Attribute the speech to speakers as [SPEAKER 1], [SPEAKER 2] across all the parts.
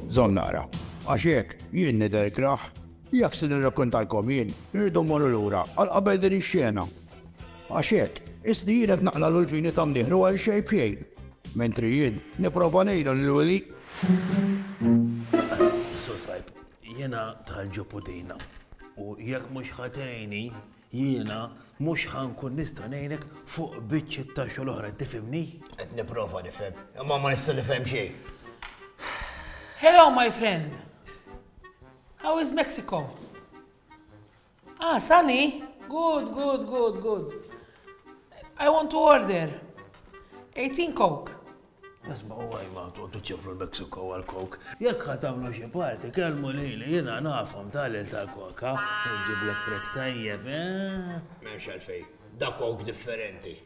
[SPEAKER 1] Zon nara, għax jekk jien nidher kraħ, jekk se nirrakkontalkom jien, irridu mmorru lura għal qabel din ix-xena. Għax hekk, isni jien qed naqla' l-ulfini ta' mnieħ li għal xejn b'xejn, mentri jien nipprova ngħidlu lil Willy.
[SPEAKER 2] Sur Pipe, jiena tal-ġupu dejna, u jekk mhux ħa tgħinni, Jiena mhux ħa nkun nista' ngħinek fuq biċċiet ta' xogħol oħra, tifhimni? Qed nipprova
[SPEAKER 3] nifhem, imma ma nista' nifhem xejn.
[SPEAKER 4] Hello my friend. How is Mexico? Ah, sunny? Good, good, good, good. I want to order 18 Coke. Ismgħu
[SPEAKER 2] għajma toqgħodu ċifru l-Mexico għall-coke. Jekk ħa tagħmlu xi party kellmu lili jiena nafhom tagħlil tal-koka nġiblek prezz tajjeb, eh? M'hemmx
[SPEAKER 3] għalfejn. Da coke differenti.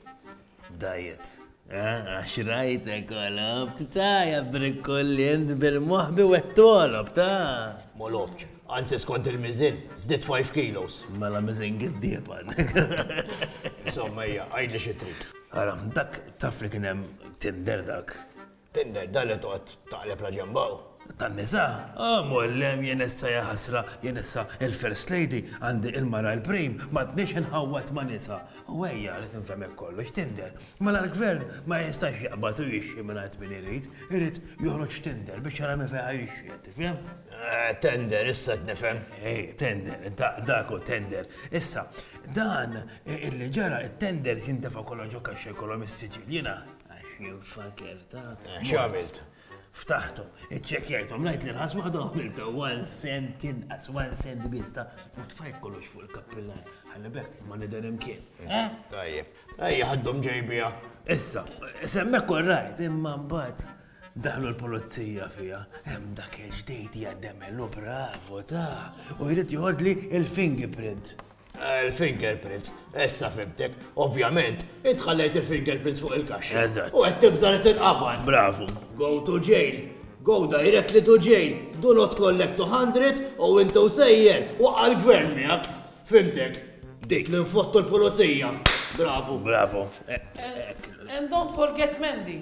[SPEAKER 3] Diet.
[SPEAKER 2] Għax rajtek għalab, t-taja brikollin bil-moħbi u għettolab, ta' molobċ.
[SPEAKER 3] Anzi skont il-mizin, zdit 5 kilos. Mela mizin
[SPEAKER 2] għiddieb għandek. Insomma,
[SPEAKER 3] hija, għajli xi trid. Ara, dak
[SPEAKER 2] taf li kien hemm Tinder dak? Tinder, dan li
[SPEAKER 3] toqgħod taqleb la ġenb hawn? Tan-nisa?
[SPEAKER 2] Ah, mgħollem, jien issa ja ħasra, jien issa il-First Lady, għandi il-mara l-prim, m'għadnix inħawwad ma' nisa. U ejja, li tinfhem hekk kollox, Tinder. Mela l-Gvern ma jistax jaqbad u jixxi mingħand min irid, irid joħroġ Tinder biex jara min fejn ħa jixxi, qed tifhem? Eh, Tender,
[SPEAKER 3] issa qed nifhem. Eh, Tender,
[SPEAKER 2] dak hu Tender. Issa, Dan illi ġara it-tenders jintefa' kollha ġo kaxxa jkollhom is-siġill jiena. Għax jien faker ta' x'għamilt.
[SPEAKER 3] Ftaħthom,
[SPEAKER 2] iċċekkjajthom, ngħid li nħas waħda għamilta one cent inqas, one cent biss ta' u tfajt kollox fuq il-kappillan. Ħalli bekk ma nidher imkien. Eh? Tajjeb.
[SPEAKER 3] Ejja ħaddhom ġejbiha. Issa,
[SPEAKER 2] semmek korrajt, imma mbagħad Daħlu l-pulizija fiha, hemm dak il-ġdid hija demelu bravo ta' u jrid joħodli il-fingerprint. Il-fingerprints,
[SPEAKER 3] issa fimtek, ovvjament, intħallejt il-fingerprints fuq il-kaxxa. Eżatt. U qed tibża li
[SPEAKER 2] tinqabad.
[SPEAKER 3] Bravo. Go
[SPEAKER 2] to jail.
[SPEAKER 3] Go directly to jail. Do not collect 200 u intu sejjer u għal-gvern miegħek. Fimtek. Dik li nfottu l-pulizija. Bravo. Bravo.
[SPEAKER 4] And don't forget Mandy.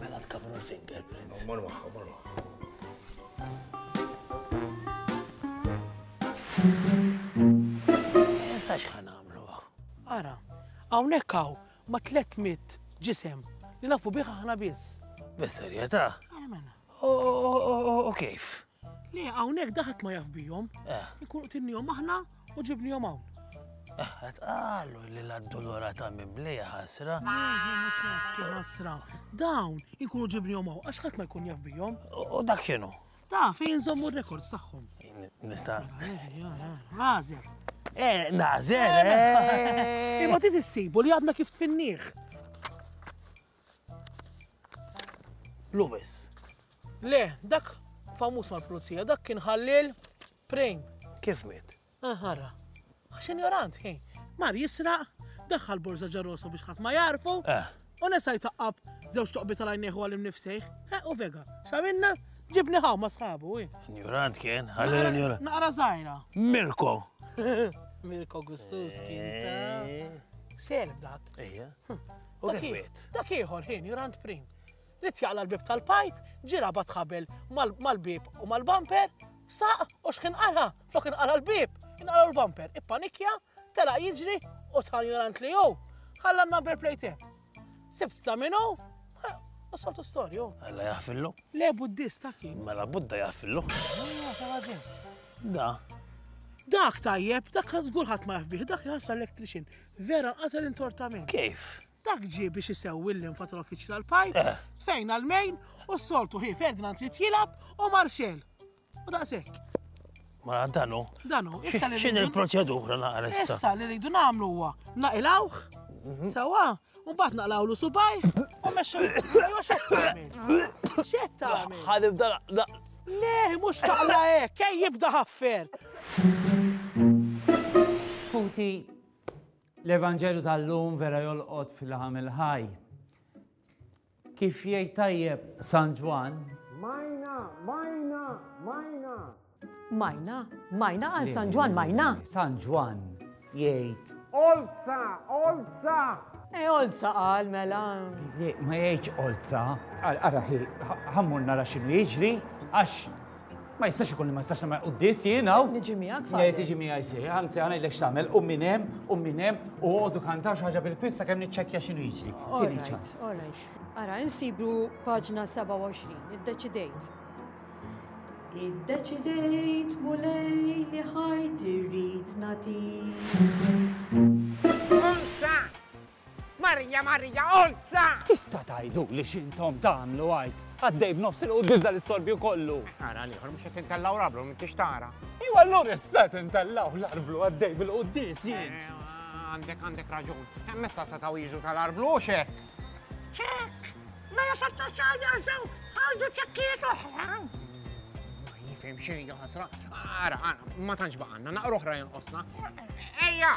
[SPEAKER 4] Mela
[SPEAKER 2] tkabru l-fingerprints. Mor waħħa, mor
[SPEAKER 3] waħħa.
[SPEAKER 2] Issa xħan għamlu għaw. Ara,
[SPEAKER 4] għawnek għaw ma 300 ġisem li nafu biħa ħna biss. Bis-serjeta?
[SPEAKER 2] U kif? Le, hawnhekk
[SPEAKER 4] daħat ma jaf bihom. Eh. Ikunu tinnihom aħna u ġibnihom hawn. Għat eh,
[SPEAKER 2] għallu li l-addolora ta' mimli ħasra.
[SPEAKER 4] ħasra. Dawn ikunu ġibni jomaw, għax ħadd ma jkun jaf bijom. U dak xinu?
[SPEAKER 2] Da, fejn zommu
[SPEAKER 4] rekords tagħhom. Nista.
[SPEAKER 2] Għażel.
[SPEAKER 4] Eh,
[SPEAKER 2] nażel. Eh, eh.
[SPEAKER 4] Imma ti tissibu li għadna kif tfinniħ.
[SPEAKER 2] Lubis.
[SPEAKER 4] Le, dak famuż mal-pulizija, dak kien Ħalliel Prejn. Kif miet?
[SPEAKER 2] Ah, ara.
[SPEAKER 4] Għax injorant, ħin. Mar jisraq, daħħal borza ġarrosa biex ħadd ma jarfu. Eh. U nesa jtaqqab żewġ toqbi tal-għajnieħu għal imnifsejħ. Eh, u vega, xaminna, ġibni ħaw ma sħabu. Eh. Njurant kien,
[SPEAKER 2] għalli l-njurant. Naqra zaħira.
[SPEAKER 4] Mirko. Mirko Gustus kien ta' eh. selb dak.
[SPEAKER 2] Ija. Hm. U kif Dak ieħor, ħin, njurant
[SPEAKER 4] prim. Ried jaqla' l-bieb tal-pipe, ġie rabat ħabel mal-bieb u mal-bumper, saq u x'kien qala'? Flok inqala' l-bieb, inqalgħu l-bumper. Ippanikja, telaq jiġri u ta' ignorant li hu, ħalla n-number plate hemm. Sibt ta' min hu, u soltu storja hu. Alla jaħfillu.
[SPEAKER 2] Le Buddista
[SPEAKER 4] kien. Mela Budda jaħfillu.
[SPEAKER 2] Da.
[SPEAKER 4] Dak tajjeb, dak żgur ħadd ma jaf bih, dak jħassar electrician. Vera qatel intortament. Kif? Dak
[SPEAKER 2] ġie biex
[SPEAKER 4] isewwi l-linfa tal-uffiċċju tal-pajp, tfejn għall-mejn u s-soltu ħi Ferdinand trid jilgħab u Marxell. U daqshekk. Ma
[SPEAKER 2] danu. Danu, issa li. X'in
[SPEAKER 4] il-proċedura
[SPEAKER 2] naqra issa?
[SPEAKER 4] Issa li rridu
[SPEAKER 2] nagħmlu
[SPEAKER 4] huwa
[SPEAKER 2] naqilawh mhm. sewwa
[SPEAKER 4] u mbagħad naqlawlu subaj u mexxu jew x'qed tagħmel. X'qed tagħmel? Ħadibda Le, mhux taqla hekk, ej jibda ħaffer.
[SPEAKER 5] Puti, L-Evanġelju tal-lum vera jolqot fil-laħam il-ħaj. Kif jgħid tajjeb San Ġwan? Majna, majna, majna.
[SPEAKER 6] Majna, majna għal San Ġwan, majna. San Ġwan
[SPEAKER 5] jgħid. Olza, olza.
[SPEAKER 6] E olza għal mela. Ma jgħidx
[SPEAKER 5] olza. Għara ħammur nara xinu jiġri, għax Ma jistax ikun li ma jistax nagħmel quddies jien hawn. Niġi miegħek fa. Jgħid tiġi
[SPEAKER 6] miegħi si,
[SPEAKER 5] anzi għana jlek x'tagħmel, u minn hemm, u minn hemm, u għodu kantaw xi ħaġa bil-kwiet sakemm niċċekkja x'inhu jiġri. Tieni ċans. Ara,
[SPEAKER 6] insibu paġna 27, iddeċidejt. Iddeċidejt mulej li ħajt irrid natik.
[SPEAKER 7] Marija, Marija, olza! Tista' tgħiduli
[SPEAKER 5] x'intom tagħmlu għid? Għaddej b'nofs il-quddies dal-istorbju kollu! Ara l-ieħor mhux qed
[SPEAKER 7] intellgħu l-arblu m'intix tara. Iva allura issa
[SPEAKER 5] qed intellgħu l-arblu għaddej bil-quddies jien. Għandek għandek
[SPEAKER 7] raġun. Hemm issa setgħu jiġu tal-arblu u x'hekk. Ċekk! Mela safta xahar jarġgħu ħarġu ċekkijiet oħra. Ma jifhem xejn ħasra. Ara, ara, ma tantx baqgħanna, naqra oħra jinqosna. Ejja!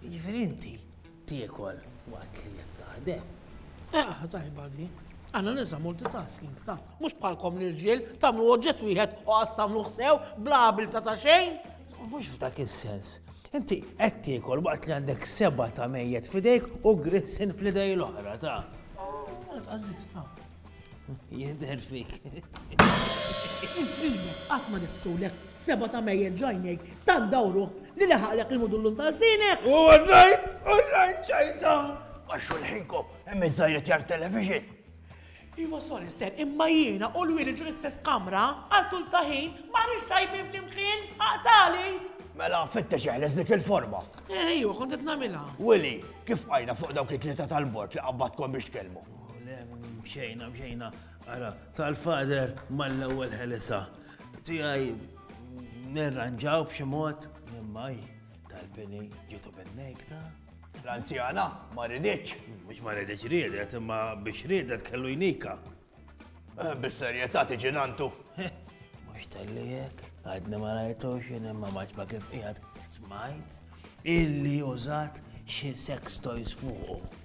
[SPEAKER 2] Jiġifieri inti tiekol waqt li qed taħdem? Eħ, tajba
[SPEAKER 4] di. Aħna nisa multitasking, ta. Mhux bħalkom l-irġiel, tagħmlu oġġett wieħed u qatt tagħmluh sew bla abilta ta' xejn. Mhux f'dak
[SPEAKER 2] is-sens. Inti qed tiekol waqt li għandek seba' ta' mejjet f'idejk u grissin fl-idej l-oħra, ta. Għażiż,
[SPEAKER 4] ta. Jidher
[SPEAKER 2] fik. Intlina,
[SPEAKER 4] qatt ma nifsulek, seba ta' mejjel ġajnejk, tant dawru li leħaqlek il-mudullum ta' sinek. U għarrajt, u
[SPEAKER 1] għarrajt ċajta. Għax xulħinko, hemm iż-żajret jar television. Iwa
[SPEAKER 4] sorry ser, imma jiena u l-wili ġu l-istess kamra, għal tul ta' ħin, ma nix tajbin fl-imkien, għaqtali. Mela, fitta
[SPEAKER 1] xeħles dik il-forma. Ejwa, eh, kont qed
[SPEAKER 4] nagħmilha. Willy, kif
[SPEAKER 1] għajna fuq dawk it-tlieta tal-bord li qabbatkom biex tkellmu? Mxejna,
[SPEAKER 2] mxejna, ara, tal-fader mal-ewwel ħelisa. Tijaj, nirranġaw b'xi mod, immaj, tal-pini ġitu bin-nejk ta' L-anzjana
[SPEAKER 1] ma ridiċ. Mux ma ridiċ
[SPEAKER 2] ridet, imma biex ridet kellu jnika. Eh,
[SPEAKER 1] bis-serjetà tiġi nantu. Mux
[SPEAKER 2] tal-li jek, għadni ma rajtu xin imma maċ ma kif jgħad smajt illi użat xie sex toys fuqu.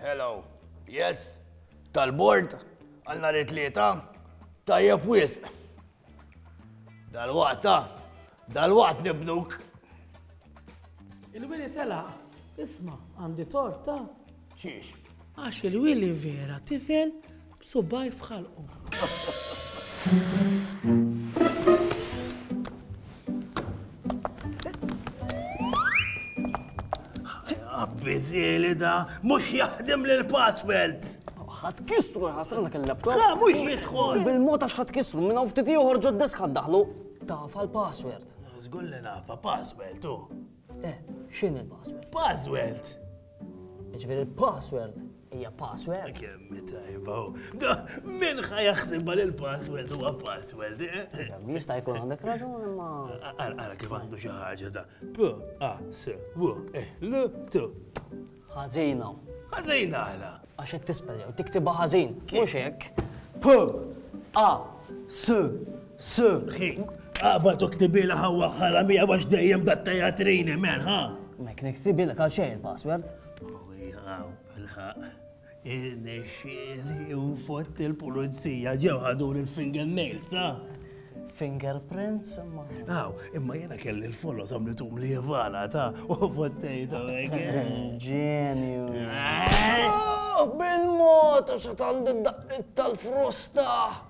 [SPEAKER 3] Hello. Yes. Tal-bord, għal nhar it-tlieta, tajjeb wisq. Dal-waqta, Dalwaqt nibnuk.
[SPEAKER 4] Il-wili telaq. Isma, għandi tort ta' xiex.
[SPEAKER 3] Għax il-wili
[SPEAKER 4] vera tifel b'subaj f'ħalqu.
[SPEAKER 2] Bizzili da, mux jaħdem l password ħat
[SPEAKER 8] kisru ħasra dak il-laptop. La, mux jitħol.
[SPEAKER 2] Bil-mota xħat kisru,
[SPEAKER 8] minna uftiti uħorġu d-desk ħad daħlu. Taf għall-password? Żgur li naf,
[SPEAKER 2] a password hu. Eh, x'inhi
[SPEAKER 8] l-password? Password! Jiġifieri l-password hija password. Kemm tajba.
[SPEAKER 2] Da, min ħa jaħsibha li l-password huwa password, eh? Jista' jkun
[SPEAKER 8] għandek raġun imma. Ara kif għandu
[SPEAKER 2] xi ħaġa da. P, A, S, W, E, L, T. Ħażina.
[SPEAKER 8] Ħażina
[SPEAKER 2] għala? Għax qed tispel jew
[SPEAKER 8] tiktibha ħażin. Mhux hekk. P A S S Ħin.
[SPEAKER 2] Aqba tuktibilha ħawwa ħaramija għax dejjem dat teatrini men, ha? Mek niktibilek
[SPEAKER 8] għal xejn il-password. Oh,
[SPEAKER 2] Irnexxieli nfott il-pulizija, ġew ħaduli l-finger nails, ta? Fingerprints
[SPEAKER 8] imma. Aw, imma jiena
[SPEAKER 2] kelli l-folos għamlitum li jivala, ta? U fottejtu hekk.
[SPEAKER 8] Ġenju. Bil-mod għax għandi d-daqqiet tal-frosta.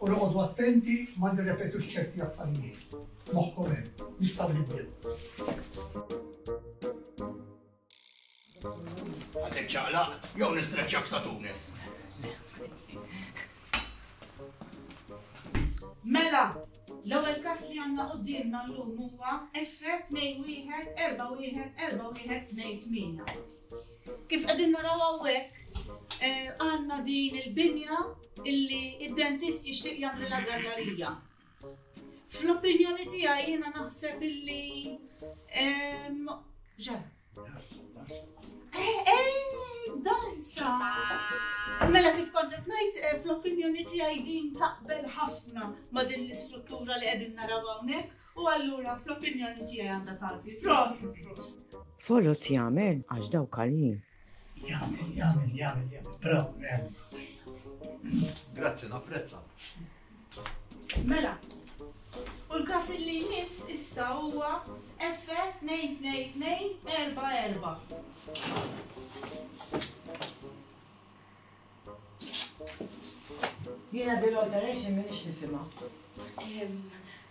[SPEAKER 9] U noqogħdu attenti ma nirrepetux ċerti affarijiet. Moħħkom hemm, nistgħu nibdew.
[SPEAKER 3] Għadek ċaqla, jew nistreċċak sa Tunis.
[SPEAKER 10] Mela, l-ewwel każ li għandna qudiemna llum huwa effett 2 wieħed 4 wieħed 4 wieħed 2 8. Kif qegħdin naraw hawnhekk, eh, għandna din il-binja illi id-dentist jixtieq jagħmlilha gallarija. Fl-opinjoni tiegħi jiena naħseb illi ġar. Eh, eh, darsa. Mela kif kont qed ngħid eh, fl-opinjoni tiegħi din taqbel ħafna ma' din l-istruttura li qegħdin naraw hawnhekk. U allura fl-opinjoni tiegħi għandha tgħaddi. Prosit! Foloz
[SPEAKER 11] jagħmel għax daw kaljin. Jagħmel, jagħmel,
[SPEAKER 9] jagħmel, jagħmel, bravo, jagħmel.
[SPEAKER 12] Grazzi, napprezza.
[SPEAKER 10] Mela, u l-kas li jmiss issa huwa F 22244. Jena dil-alteration minix nifima.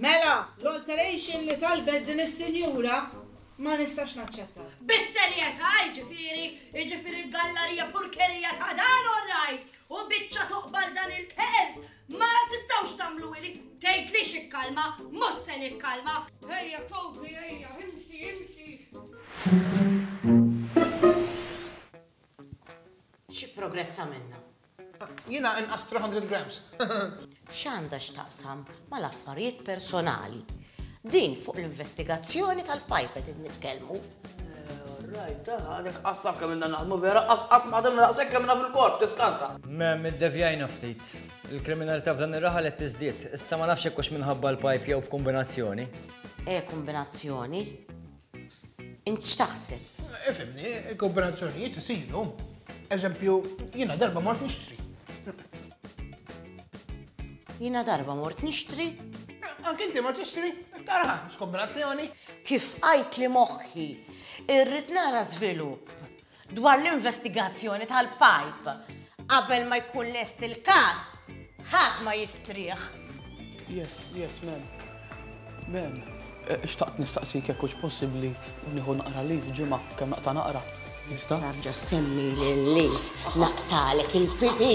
[SPEAKER 3] Mela,
[SPEAKER 10] l-alteration li talbet din is-sinjura ma nistax naċċetta. Bis-serjetà
[SPEAKER 13] jiġifieri, jiġifieri l-gallarija purkerija ta' dan orrajt u biċċa toqbal dan il-kelb ma tistgħux tagħmlu li tgħid li xikkalma, mhux se nikkalma. Ejja, kopri, ejja, imxi,
[SPEAKER 11] imxi. Xi progress għamilna? Jiena
[SPEAKER 4] inqas 300 grams. X'għandha
[SPEAKER 11] x'taqsam mal-affarijiet personali? Din fuq l-investigazzjoni tal-pajpet qed nitkellmu.
[SPEAKER 8] Alright, ta' għadek qas taf kemm inna naħdmu vera, qas qatt ma ħadimna daqshekk kemm inna fil-korp tiskanta. Mem, iddevjajna
[SPEAKER 12] ftit. Il-kriminalità f'dan ir-raħal qed tiżdied. Issa ma nafx jekk hux minħabba l-pajp jew b'kumbinazzjoni. E kombinazzjoni?
[SPEAKER 11] Int x'taħseb? Ifimni,
[SPEAKER 4] il-kooperazzjonijiet isiru. Eżempju, jiena darba mort nixtri.
[SPEAKER 11] Jiena darba mort nixtri? Anke inti
[SPEAKER 4] mort nixtri? Tarħa, skombinazzjoni. Kif għajt
[SPEAKER 11] li moħħi, irrid nara żvilupp. Dwar l-investigazzjoni tal-pajp, qabel ma jkun lest il-każ, ħadd ma jistrieħ. Yes,
[SPEAKER 8] yes, mem. Mem. Eh, xtaqt nistaqsik jekk hux possibbli nieħu naqra li f'ġimgħa kemm naqta' naqra. Nista? Nabġa semmi
[SPEAKER 11] lilli naqtalek il-pipi.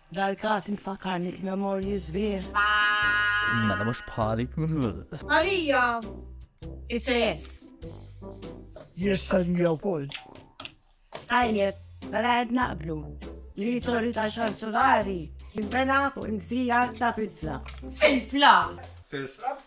[SPEAKER 14] Dal-każ infakkarni b'memorji sbieħ. Mela
[SPEAKER 12] mhux bħali. Għalija
[SPEAKER 14] it's a yes.
[SPEAKER 9] Yes għalija wkoll.
[SPEAKER 14] Tajjeb, mela qed naqblu li torri ta' xar solari jinbena fuq il-gżira ta' Filfla. Filfla! Filfla?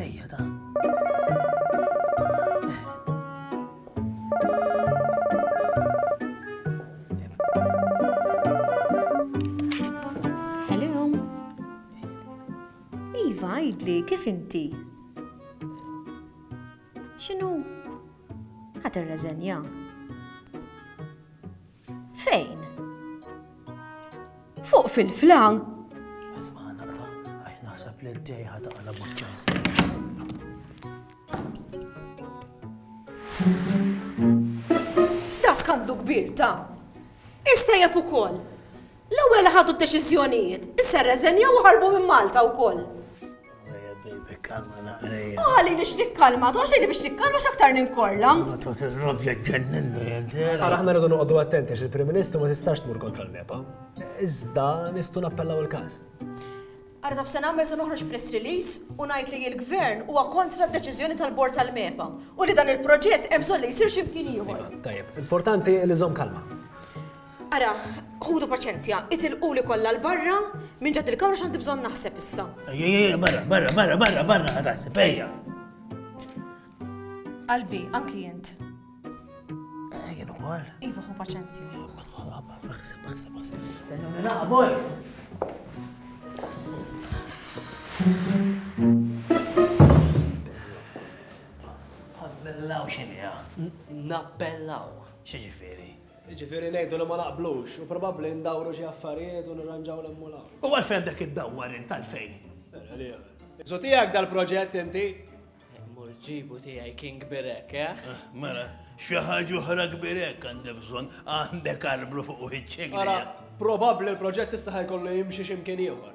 [SPEAKER 2] Ejja da.
[SPEAKER 6] Hello. Iva, għidli, kif inti? Xinu? Ħat ir-reżenja. Fejn? Fuq fil-flan? Għazma
[SPEAKER 2] naqra, għax naħseb li d-dej ħataqla b'ċess.
[SPEAKER 6] Da skandlu kbir ta' Issa jep ukoll. L-ewwel li ħadu d-deċiżjonijiet, issa rreżenjaw u ħarbu minn Malta wkoll.
[SPEAKER 2] Għali li x'nikkalma,
[SPEAKER 6] tu għaxi li biex nikkalma x'aktar ninkorla.
[SPEAKER 2] Għara ħna rridu noqogħdu
[SPEAKER 15] attenti għax il-Prim Ministru ma tistax tmur kontra l-MEPA. Iżda nistgħu nappellaw il-każ. Għara
[SPEAKER 6] taf se nagħmel se noħroġ press release u ngħid li l-Gvern huwa kontra d-deċiżjoni tal-Bord tal-MEPA u li dan il-proġett hemm bżonn li jsir xi mkien ieħor. Iva, tajjeb, importanti
[SPEAKER 15] li żomm kalma. Ara,
[SPEAKER 6] ħudu paċenzja, itilquli kollha 'l barra minn ġadd il-kamra x'għandi bżonn naħseb issa. Ejja, barra, barra,
[SPEAKER 2] barra, barra, barra, ħa taħseb, ejja.
[SPEAKER 6] Qalbi, anki int.
[SPEAKER 2] Jien ukoll. Iva, ħu paċenzja.
[SPEAKER 6] Aħseb, aħseb,
[SPEAKER 2] aħseb. Stennu
[SPEAKER 3] naqa, boys!
[SPEAKER 2] Nappellaw xinija. Nappellaw.
[SPEAKER 8] Xieġifiri?
[SPEAKER 2] Jiġifieri ngħidu
[SPEAKER 15] li ma naqblux u probabbli ndawru xi affarijiet u nirranġaw 'l hemm u 'l hawn. U għalfejn għandek
[SPEAKER 2] iddawwar int, għalfejn? Elia,
[SPEAKER 15] Is hu tiegħek dal-proġett inti? Mur ġibu
[SPEAKER 8] tiegħi kien kbir hekk, eh? Mela, xi
[SPEAKER 2] ħaġa oħra kbir hekk għandi bżonn, għandek arblu fuq wiċċek. Ara, probabbli
[SPEAKER 15] l-proġett issa ħa jkollu jimxi xi mkien ieħor.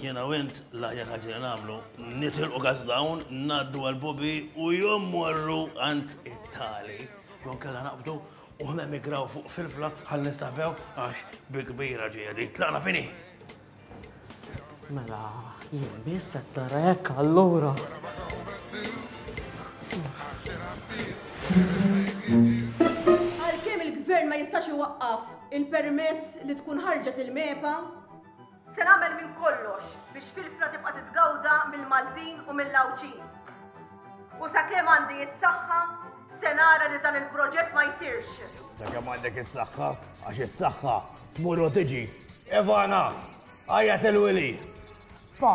[SPEAKER 2] Jiena u int l-aħjar ħaġa li nagħmlu nitilqu Gazdawn, ngħaddu għal Bubi u jew mmorru għand it-Tali jew inkella naqbdu u nemigraw fuq Filfla ħalli nistaħbew għax bi kbira ġejja din. Tlaqna fini! Mela,
[SPEAKER 8] jien biss qed nara hekk allura.
[SPEAKER 6] Għalkemm il-Gvern ma jistax iwaqqaf il-permess li tkun ħarġet il-MEPA, Se nagħmel minn kollox biex Filfra tibqa' titgawda mill-Maltin u mill-Għawdxin. U sakemm għandi s-saħħa, se nara li dan il-proġett ma jsirx. Sakemm għandek
[SPEAKER 3] is-saħħa, għax is-saħħa tmur u tiġi. Ivana, għajja il-wili. Pa,